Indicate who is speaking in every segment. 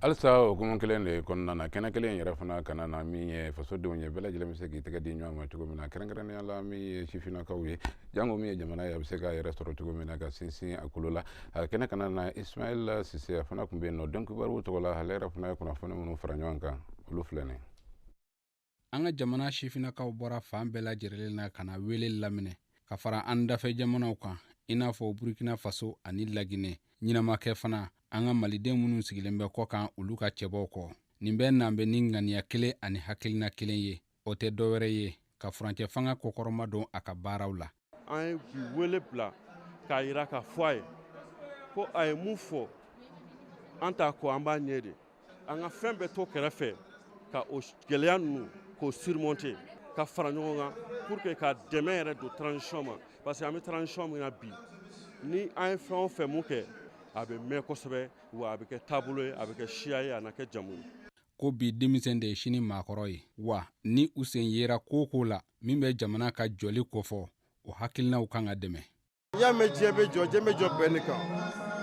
Speaker 1: halisa o kuma kelen de kɔnɔna na kɛnɛ kelen yɛrɛ fana kanna na min ye fasodenw ye bɛɛ lajɛlen bɛ se k'i tɛgɛ di ɲɔgɔn ma cogo min na kɛrɛnkɛrɛnnenya la min ye sifinnakaw ye jango min ye jamana ye a bɛ se k'a yɛrɛ sɔrɔ cogo min na ka sinsin a kolo la a kɛnɛ kanna na ismail sise a fana tun bɛ yen nɔ donkibaru tɔgɔ la ale yɛrɛ fana ye kunnafoni minnu fara ɲɔgɔn kan olu filɛ nin ye
Speaker 2: an ka jamana sifinnakaw bɔra fan bɛɛ lajɛrɛlen na ka na wele laminɛ ka fara an dafɛ jamanaw kan i n'a fɔ burkina faso ani lagine ɲina ma kɛ fana an ka maliden minnu sigilen bɛ kɔkan olu ka cɛbɔw kɔ nin bɛɛ nan bɛ ni ŋaniya kelen ani hakilina kelen ye o tɛ dɔwɛrɛ ye ka furancɛ fanga kɔkɔrɔmadon a ka baaraw la an ye bi
Speaker 3: wele bila k'a yira k'a fɔ a ye ko a ye mun fɔ an t'a kɔ an b'a ɲɛ de an ka fɛn bɛɛ to kɛrɛfɛ ka o gɛlɛya ninnu k'o surmonter ka fara ɲɔgɔn kan pour que ka dɛmɛ yɛrɛ don transition ma parce que an bɛ transition min na bi ni an ye fɛn o fɛn mun kɛ a bɛ mɛn kosɛbɛ wa a bɛ kɛ taabolo ye a bɛ kɛ siya ye a na kɛ jamu ye ko bi
Speaker 2: denmisɛn de ye sini maakɔrɔ ye wa ni u sen yera ko o ko la min bɛ jamana ka jɔli kofɔ o hakilinaw kan ka dɛmɛ n'i y'a mɛn diɲɛ bɛ
Speaker 4: jɔ diɲɛ bɛ jɔ bɛn ne kan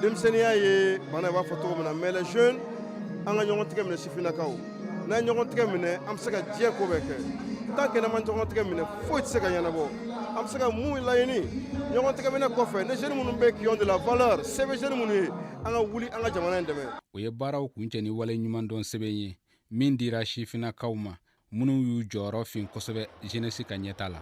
Speaker 4: denmisɛnninya ye bana ye b'a fɔ cogo min na mais les jeunes an ka ɲɔgɔn tigɛ minɛ sifinnakaw n'an ye ɲɔgɔn tigɛ minɛ an bɛ se ka diɲɛ ko bɛɛ kɛ tant que n'an ma ɲɔgɔn tigɛ minɛ foyi tɛ se ka ɲɛnabɔ an bɛ se ka mun laɲini ɲɔgɔn tigɛ minɛ kɔfɛ les jeunes minnu bɛ qui ont de la valeur sɛbɛ jeunes minnu ye an ka wuli an ka jamana in dɛmɛ o ye baaraw
Speaker 2: kuncɛ ni waleɲumandɔn sɛbɛn ye min dira sifinnakaw ma minnu y'u jɔyɔrɔ fin kosɛbɛ jeunesse ka ɲɛtaa la